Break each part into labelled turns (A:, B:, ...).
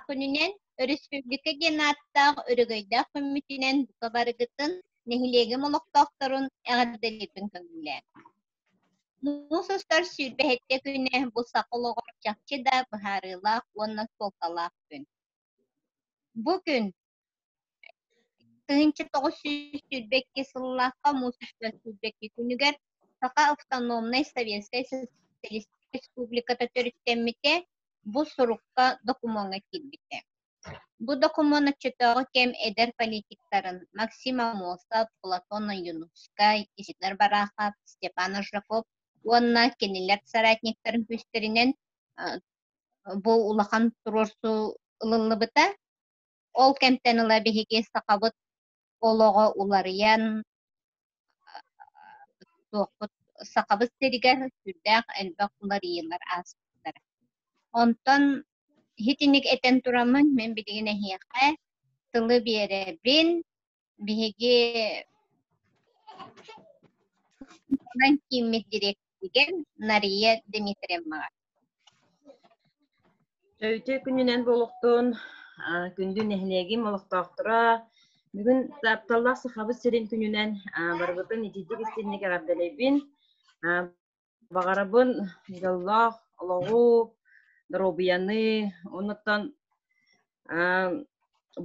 A: күнүнэн өрөспүүбүлүкэ диэн ааттаах өрөгөйдөөх күммүтүнэн бука барыгытын нэһилиэгим олохтоохторун эҕэрдэлиирбин көҥүллээн. Муус устар сүүрбэһиттэ күнэ бу саха олоҕор чахчы да быһаарыылаах уонна суолталаах күн. Бу күн Кыһынча тоҕус сүүс сүүрбэкки сыллаахха муус өстөөх сүүрбэкки күнүгэр Саха автономнай Советскай Социалистическай Республиката төрүттэммитэ бу сурукка докумуоҥҥа киирбитэ. Бу докумуон оччотооҕу кэм эдэр политиктарын Максим Амосов, Платон Юнускай, Исидор Барахов, Степан Ожаков уонна кинилэр соратниктарын күүстэринэн бу улахан туруорсуу ылыллыбыта. Ол кэмтэн ыла биһиги сахабыт олоҕо уларыйан туохпут Сахабыт сиригэр сүрдээх элбэх уларыйыылар ааспыттара. Онтон иһитинник этэн тураммын мин билигин эһиэхэ тылы биэрэбин, биһиги кииммит дириэктигэн Нария Дмитриевнаҕа.
B: Өйдө күнүнэн болуктун, күндү нэһилиэгим олохтоохторо, бүгүн тапталлаах Сахабыт сирин күнүнэн барыбытын итиитик истинник эҕэрдэлэйбин. Баҕарабын дьоллоох олоҕу, доруобуйаны онуттан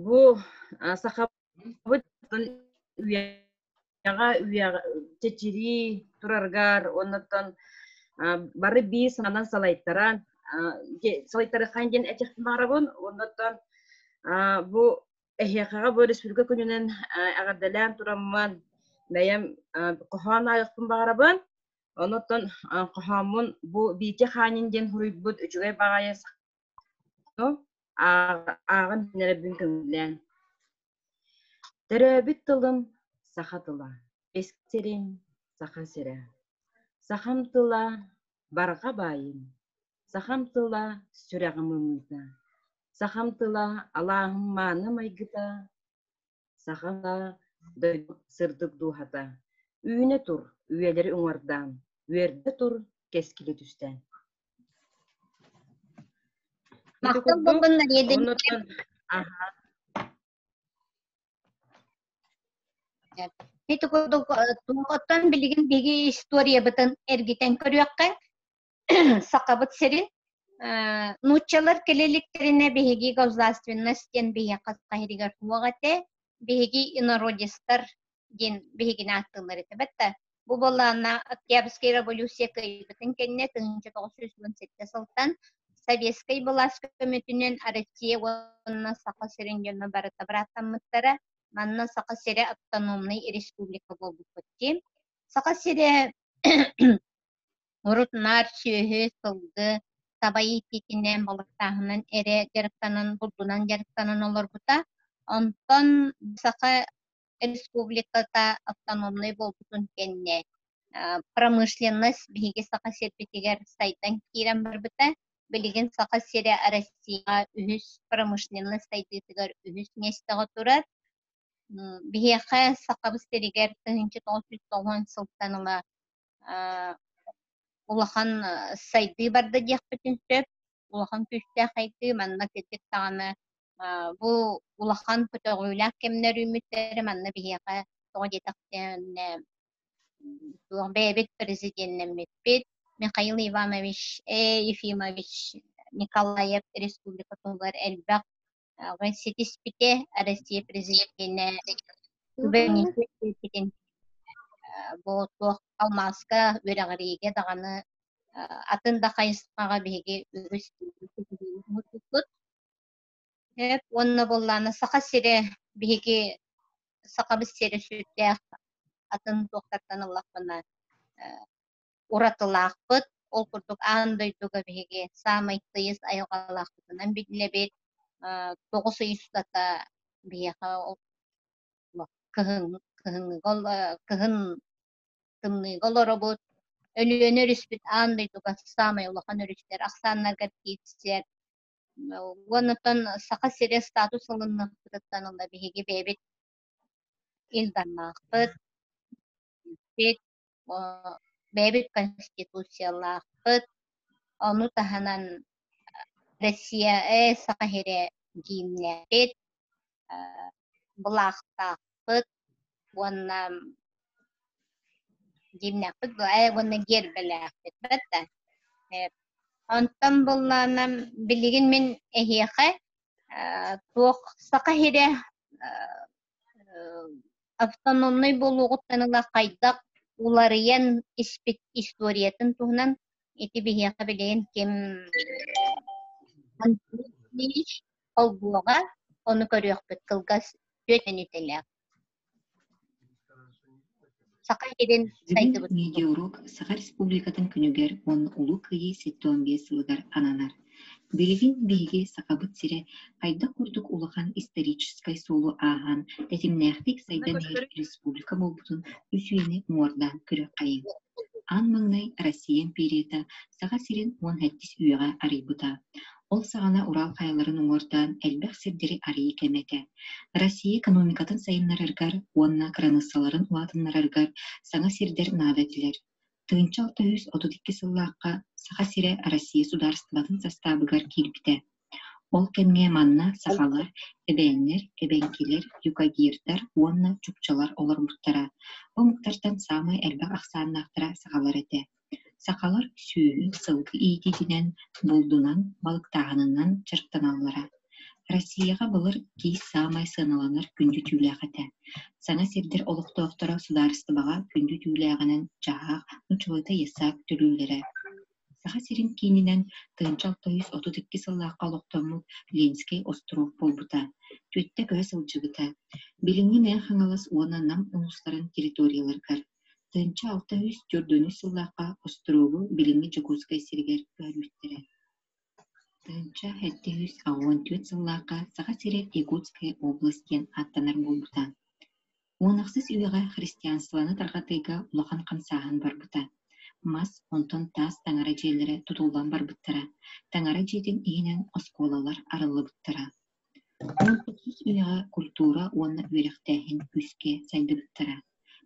B: бу сахабыт үйэҕэ чэчирии тураргар онуттан бары биир сананан салайтаран салайтары хаан диэн этих баарабын онуттан бу эһиэхэҕэ бу республика күнүнэн эҕэрдэлээн тураммын бэйэм хоһоон айыкпын баарабын Онуттан хоһооммун бу Биики хаанин диэн суруйбут үчүгэй баҕайы ааҕын эрэбин көҥүллээн. Төрөөбүт тылым саха тыла, сирим саха сирэ. Сахам тыла барҕа баайым, сахам тыла сүрэҕим ымыыта, сахам тыла алааһым мааны майгыта, Саха дойду сырдык дууһата, үүнэ тур, үйэлэри уҥардаан, үөрдэ тур, кэскилэ түстээн.
A: Махтал буоллуннар единичек. Аха. Ити курдук э, туох оттон билигин биһиги историябытын эргитэн көрүөххэ. Сахабыт сирин э, нууччалар кэлэликтэринэ биһиги государственность диэн биһиэхэ хаһырыгар туох этэ биһиги инородецтар диэн биһигини аттылар этебет да бу боллаана Октябрьская революция кыайбытын кэннэ тыһынча тоғыз жүз он сэттэ сылтан Советскай былаас көмөтүнэн Россия уонна Саха сирин дьоно барыта бырааттаммыттара манна Саха сирэ автономный республика буолбуппут дии Саха сирэ Урут наар сүөһү, сылгы сабайы ииппитинэ балыктааһынан эрэ дьарыктанан, бурдунан дьарыктанан олорбута. Онтон Саха Республиката автономнай буолбутун кэннэ промышленность биһиги Саха сирбитигэр сайдан киирэн барбыта. Билигин Саха сирэ Россияҕа үһүс промышленность сайдыытыгар үһүс миэстэҕэ турар. Биһиэхэ Сахабыт сиригэр тыһыынча тоҕус сүүс тоҕуон сылтан ыла улахан сайдыы барда диэхпитин сөп улахан күүстээх сайдыы манна кэтик даҕаны бу улахан көтөҕүүлээх кэмнэр үүммүттэрэ манна биһиэхэ тоҕо диэтэхтэринэ туох бэйэбит президеннэммиппит Михаил Иванович Ефимович Николаев республикатыгар элбэх ситиспите Россия президентинэ күбэниитин бу туох алмааска үрэҕириигэ даҕаны атын да хайысхаҕа биһиги үгүс мутукпут эп уонна буоллаана саха сирэ биһиги сахабыт сирэ сүрдээх атын туохтартан ыллахпына уратылаахпыт, ол курдук аан дойдуга биһиги саамай тыйыс айылҕалаахпытынан биллэбит, тоҕус ый устата биһиэхэ кыһын, кыһыҥҥыга, кыһын тымныыга олоробут, Өлүөнэ өрүспүт аан дойдуга саамай улахан өрүстэр, ахсааннарга киирсэр. Уонуттан Саха сирэ статус алыннахпытыттан ыла биһиги бэйэбит Илданнаахпыт, бэйэбит конституциялаахпыт ону таһынан Россия саха иһирэ гимнэхпит былаахтаахпыт уонна гимнэхпит уонна гербэлээхпит бэрдэ онтон быллаанам билигин мин эһиэхэ туох саха иһирэ автономнай буолуоҕуттан ыла хайдах уларыйан испит историятын туһунан ити биһиэхэ билигин ким холбуоҕа ону көрүөхпүт кылгас түөрт мүнүүтэлээх Саха сирин сайдыбыт видеоуруок Саха
C: Республикатын күнүгэр уонна Улуу Кыайыы сэттэ уон биэс сылыгар ананар. Билигин биһиги Сахабыт сирэ хайдах курдук улахан историческай суолу ааһан, тэтимнээхтик сайдан иһэр республика буолбутун үс үйэни муҥурдаан күрэххэйиҥ. Ан маҥнай Россия империята Саха сирин уон сэттис үйэҕэ арыйбыта. Ол саҕана Урал хайаларын уҥуордаан элбэх сирдэри арыйыы кэмэ этэ. Россия экономикатын сайыннарарыгар уонна кыраныыссаларын улаатыннарарыгар саҥа сирдэр наада этилэр. Тыынча алта үс отут икки сыллаахха Саха сирэ Россия судаарыстыбатын састаабыгар киирбитэ. Ол кэмҥэ манна сахалар, эбээннэр, эбэҥкилэр, юкагирдар уонна чукчалар олорбуттара. Омуктартан саамай элбэх ахсааннаахтара сахалар этэ. Сахалар сүөһү сылгы иитиитинэн, булдунан, балыктааһынынан дьарыктаналлара. Россияҕа былыр киис саамай сыаналанар күндү түүлээх этэ. Саҥа сирдэр олохтоохторо судаарыстыбаҕа күндү түүлээҕинэн дьаһаах, нучулата иссаак төлүүллэрэ. Саха сирин киининэн тыһыынча алта сүүс отут икки сыллаахха олохтоммут Ленскэй остуруок буолбута, түөртэ көһө сылдьыбыта. Билиҥҥи Мэҥэ Хаҥалас уонна Нам улуустарын территорияларыгар Төнчө алта үс төрдүнү сыллаахха остуруобу билиҥҥи Дьокуускай сиригэр көрбүттэрэ Төнчө сэттэ үс уон түөрт сыллаахха Саха сирэ Якутская область диэн ааттанар буолбута Уон ахсыс үйэҕэ христианствоны тарҕатыыга улахан хамсааһын барбыта Мас онтон таас таҥара дьиэлэрэ тутуллан барбыттара Таҥара дьиэтин иһинэн оскуолалар арыллыбыттара Уопутсус үлэҕэ культура уонна үөрэхтээһин күүскэ сайдыбыттара,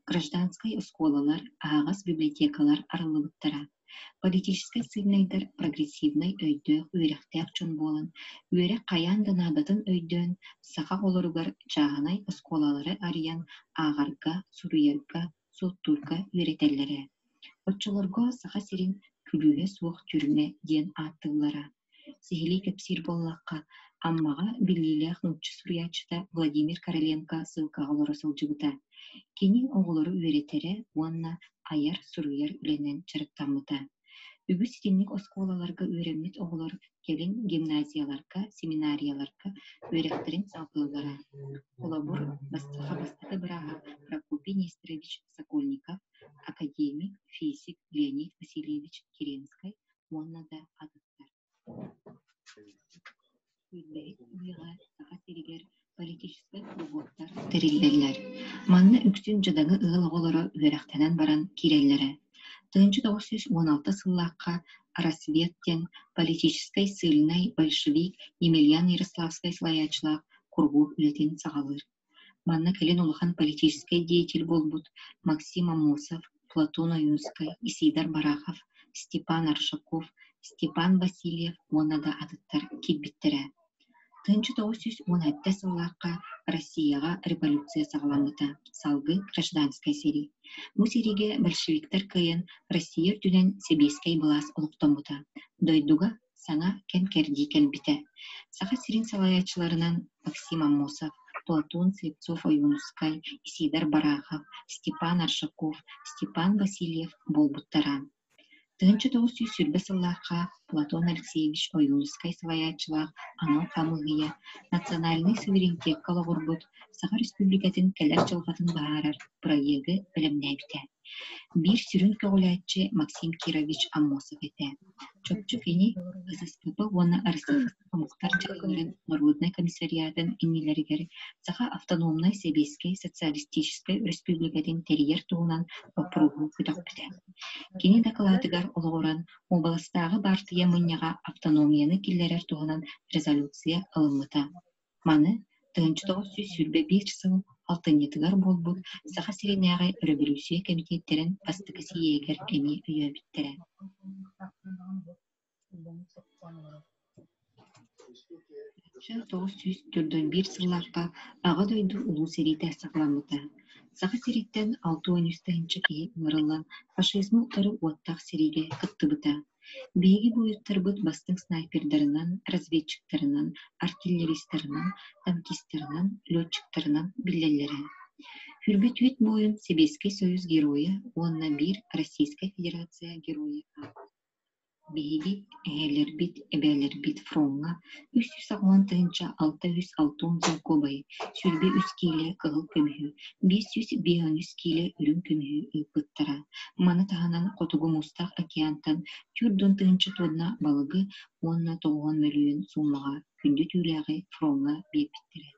C: гражданскай оскуолалар, аһаҕас библиотекалар арыллыбыттара, политическай сыынайдар прогрессивнай өйдөөх үөрэхтээх дьон буолан, үөрэх хайаан да наадатын өйдөөн, саха оҕолоругар чааһынай оскуолалары арыйан ааҕарга, суруйарга, суоттуурга үөрэтэллэрэ. Оччолорго Саха сирин күлүүһэ суох түрмэ диэн ааттыыллара. Сиһилии кэпсиир буоллахха, Аммаҕа биллиилээх нуучча суруйааччыта Владимир Короленко ссылкаҕа олоро сылдьыбыта. Кини оҕолору үөрэтэрэ уонна айар-суруйар үлэнэн дьарыктаммыта. Үгүс итинник оскуолаларга үөрэммит оҕолор кэлин гимназияларга, семинарияларга үөрэхтэрин салҕыыллара. Холобур, бастакы бастакы бырааһа Прокопий Несторович Сокольников, академик, физик Леонид Васильевич Керенскай уонна да атыттар Күөллэри ылыыга Саха сиригэр политическай куруһуоктар тэриллэллэр. Манна үксүн дьадаҥы ыал оҕолоро үөрэхтэнэн баран киирэллэрэ. Тыһыынча тоҕус сүүс уон алта сыллаахха «Рассвет» диэн политическай сильнай большевик Емельян Ярославскай салайааччылаах куруһуок үлэтин саҕалыыр Манна кэлин улахан политическай деятель буолбут Максим Аммосов, Платон Ойуунскай, Исидар Барахов, Степан Аршаков, Степан Васильев уонна да атыттар киирбиттэрэ. Тыынча тоҕус сүүс уон сэттэ сыллаахха Россияҕа революция саҕаламмыта. Салгы гражданскай сэрии. Бу сэриигэ большевиктар кыайан Россия үрдүнэн сэбиэскэй былаас олохтоммута. Дойдуга саҥа кэм-кэрдии кэлбитэ. Саха сирин салайааччыларынан Максим Аммосов, Платон Слепцов-Ойуунускай, Исиидар Барахов, Степан Аршаков, Степан Васильев буолбуттара. Тыһыынча тоҕус сүүс сүүрбэ сыллаахха Платон Алексеевич Ойуунускай салайааччылаах анал хамыыһыйа национальнай суверенитекка олоҕурбут Саха Республикатын кэлэр дьылҕатын быһаарар проегы бэлэмнээбитэ. Биир сүрүн көҕүлээччи Максим Кирович Аммосов этэ. Чопчу кини ССКТ уонна Российскай омуктар дьайыыларын норуодунай комиссариатын иннилэригэр Саха автономнай сэбиэскэй социалистическай өрөспүүбүлүкэтин тэрийэр туһунан боппуруоһу көтөхпүтэ. Кини дакылаатыгар олоҕуран уобаластааҕы баартыйа мунньаҕа автономияны киллэрэр туһунан резолюция ылыммыта. Маны тыһыынча тоҕус сүүс сүүрбэ биир сыл алтынньытыгар буолбут Саха сиринээҕи өрөбөлүүссүйэ кэмитиэттэрин бастакы сийиэгэр эмиэ өйөөбүттэрэ үксэ тоҕус сүүс төрдөн биир сыллаахха Аҕа дойду Улуу сэриитэ саҕаламмыта Саха сириттэн алта уон үс тыһыынча киһи ыҥырылла фашизмы утары уоттаах сэриигэ кыттыбыта Биһиги буойуттарбыт бастыҥ снайпердарынан, разведчиктарынан, артиллеристарынан, танкистарынан, летчиктарынан биллэллэрэ. Хүрбүт Үүт Муойун Сэбиэскэй Союз Геройа уонна биир Российскай Федерация Геройа аат. Биһиги эһээлэрбит, эбээлэрбит фроҥҥа үс сүүс аҕыан тыһыынча алта үс алта уон солкуобайы сүүрбэ үс киилэ кыһыл көмүһү биэс сүүс биэһэҥ үс киилэ үрүҥ көмүһү ыыппыттара маны таһынан хотугу мустах океантан түөрт уон тыһыынча туонна балыгы уонна тоҕуон мөлүйүөн суумаҕа күндү түүлээҕи фроҥҥа биэрбиттэрэ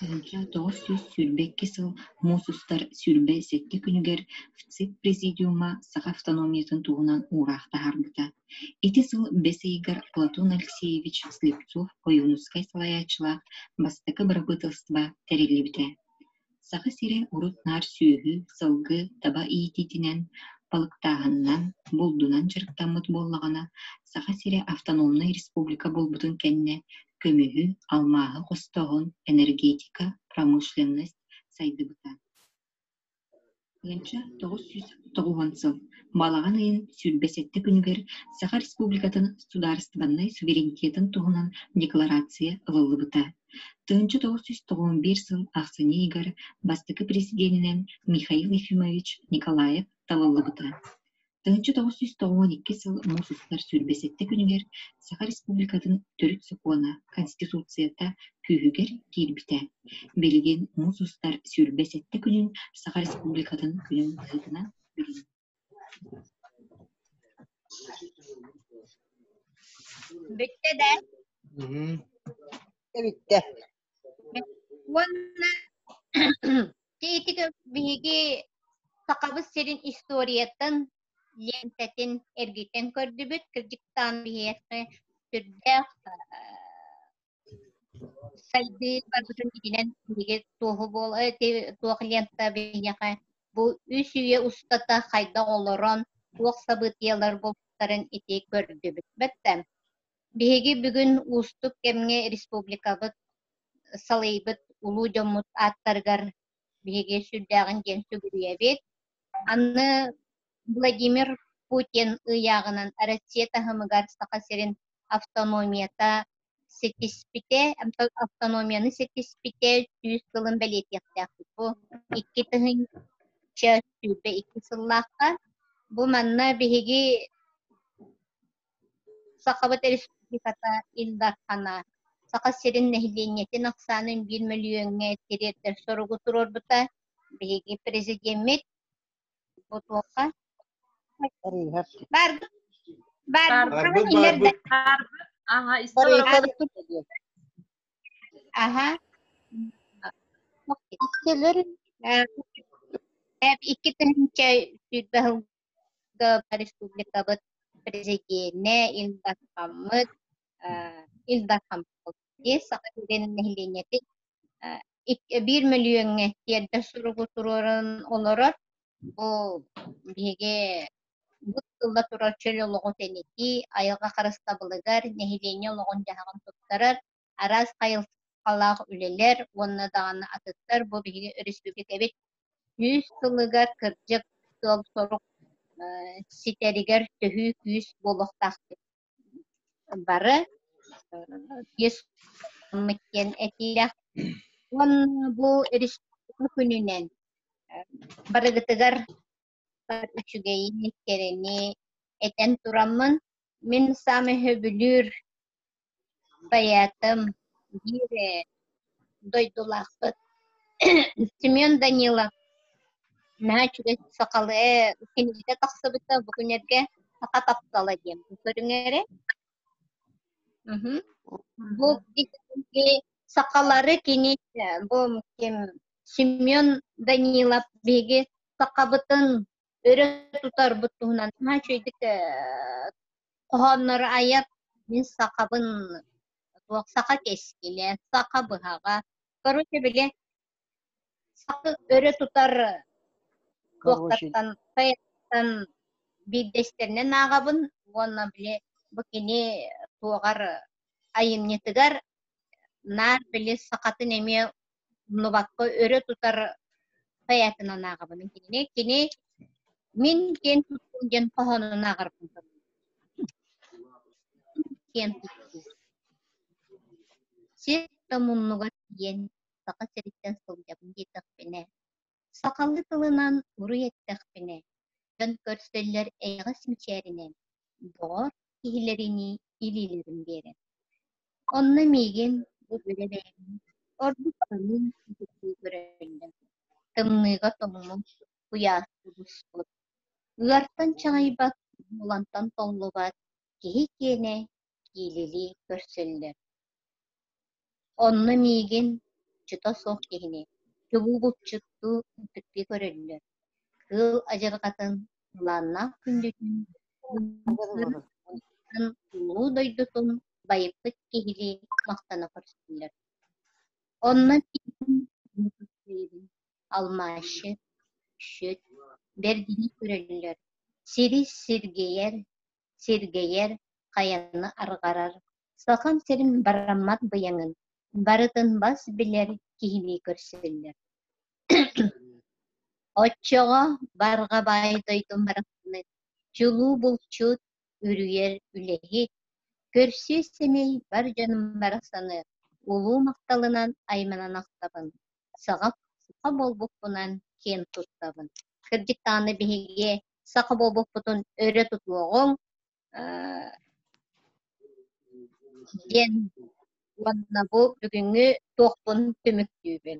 C: Арыгы тоҕус сүүс сүүрбэ икки сыл муус устар сүүрбэ сэттэ күнүгэр ВЦИП-президиума саха автономиятын туһунан уураах таһаарбыта. Ити сыл бэс ыйыгар Платон Алексеевич Слепцов, ойуунускай салайааччылаах бастакы бырабыыталыстыба тэриллибитэ. Саха сирэ урут наар сүөһү, сылгы, таба иитиитинэн, балыктааһынынан, булдунан дьарыктаммыт буоллаҕына, Саха сирэ автономнай республика буолбутун кэннэ көмүһү, алмааһы хостооһун, энергетика, промышленность сайдыбыта. Уонча тоҕус сүүс тоҕуһун сыл Балаҕан ыйын сүүрбэ сэттэ күнүгэр Саха Республикатын судаарыстыбаннай суверенитетын туһунан декларация ылыллыбыта. Тыһыынча тоҕус сүүс тоҕуһун биир сыл ахсынньы ыйыгар бастакы президенинэн Михаил Ефимович Николаев талыллыбыта. Таһыччы тоҕус сүүс тоҕуон икки сыл муус устар сүүрбэ сэттэ күнүгэр Саха Республикатын Төрүт сокуона Конституцията күүһүгэр киирбитэ. Билигин муус устар сүүрбэ сэттэ күнүн Саха Республикатын күнүн быһыытынан
A: Бүттэ да?
D: Бүттэ. Уонна
A: биһиги Сахабыт сирин историятын лентэтин эргитэн көрдүбүт. Кырдьыктаан биһиэхэ сүрдээх сайдыы барбытын иһинэн биһиги туоһу буол туох лента биһиэхэ бу үс үйэ устата хайдах олорон туох сабытыйалар булбуттарын ити көрдүбүт. Бэттэ Биһиги бүгүн уустук кэмҥэ республикабыт салайбыт улуу дьоммут ааттарыгар биһиги сүрдээҕин диэн сүгүрүйэбит. Аны Владимир Путин ыйааҕынан Россия таһымыгар Саха сирин автономията ситиспитэ, автономияны ситиспитэ сүүс сылын бэлиэтиэхтээхпит. Бу икки тыһыынча сүүрбэ икки сыллаахха. Бу манна биһиги Сахабыт Республиката Ил Дархана Саха сирин нэһилиэнньэтин ахсаанын биир мөлүйүөҥҥэ тириэрдэр соругу туруорбута биһиги президеммит бу туохха баарбыт
B: баарбыт
A: баарбыт аха икки тыһыынча сүүрбэ республикабыт президиэнэ Ил Дархаммыт Ил Дархаммыт саха сирин нэһилиэнньэтин биир мөлүйүөҥҥэ тиэрдэр суругу туруоран олорор бу биһиги бу сылла турар чөл олоҕу тэнитии айылҕа харыстабылыгар нэһилиэнньэ олоҕун-дьаһаҕын туттарар араас хайысхалаах үлэлэр уонна даҕаны атыттар бу биһиги өрөспүүбүлүкэбит сүүс сылыгар кырдьык сыал сорук ситэригэр төһүү күүс буолуохтаахпыт. Бары биэс диэн этиилэх уонна бу күнүнэн барыгытыгар үчүгэйини, кэрэни этэн тураммын, мин сам өһөбүлүүр поэтым, биир дойдулаахпыт Семен Данилов наһаа үчүгэй сахалыы кинигэ тахсыбыта бу күнэргэ саха таптала диэн көрүҥэ эрэ бу сахалары кини бу ким Семен Данилов биһиги сахабытын өрө тутарбыт туһунан саҥа үчүгэйдик хоһооннору айар мин сахабын туох саха кэскилэ саха быһаҕа короче били сахы өрө тутар туохтаттан сайеттан биирдэстэринэн ааҕабын уонна били бу кини туоҕар айымньытыгар наар били сахатын эмиэ умнубакка өрө тутар поэтынан ааҕабын кинини кини мин киэн туттуум диэн хоһоонун ааҕарбын киэн туттуу сир да муннугар тиийэн саха сириттэн сылдьабын диэтэхпинэ Сахалыы тылынан уруй эттэхпинэ, дьон көрсөллөр эйэҕэс мичээринэн доҕор киһилэринии илиилэрин биэрэн. Онно миигин бу үлэ бэйэм ордук аныын ититтии көрөллөр. Тымныыга тоҥмут, куйаасты буспут, ыартан чаҥайбат, булантан толлубат киһи киэнэ диилилии көрсөллөр Онно миигин, чута суох киһини, чубуу булчуттуу ынтыктыы көрөллөр. Кыыл адьырҕатын, былааннаах күндүтүн, улуу дойдутун байыппыт киһилии махтана көрсөллөр. Онно миигин алмаащы, шүт, бэргини көрөллөр, сири сиргийэр, сиргэйэр, хайаны арҕарар, сахам сирин бараммат быйаҥын, барытын бас билэр киһини көрсөллөр. Оччоҕо барҕа баай дойдум барахсаны чулуу булчут үрүйэр үлэһит, көрсүө сэмэй бар дьонум барахсаны улуу махталынан айманан ахтабын. саҕа саха буолбуппунан киэн туттабын. Кырдьыктааны биһиги саха буолбуппутун өрө тутуоҕуҥ диэн уонна бу бүгүҥҥү туохпун түмүктүүбүн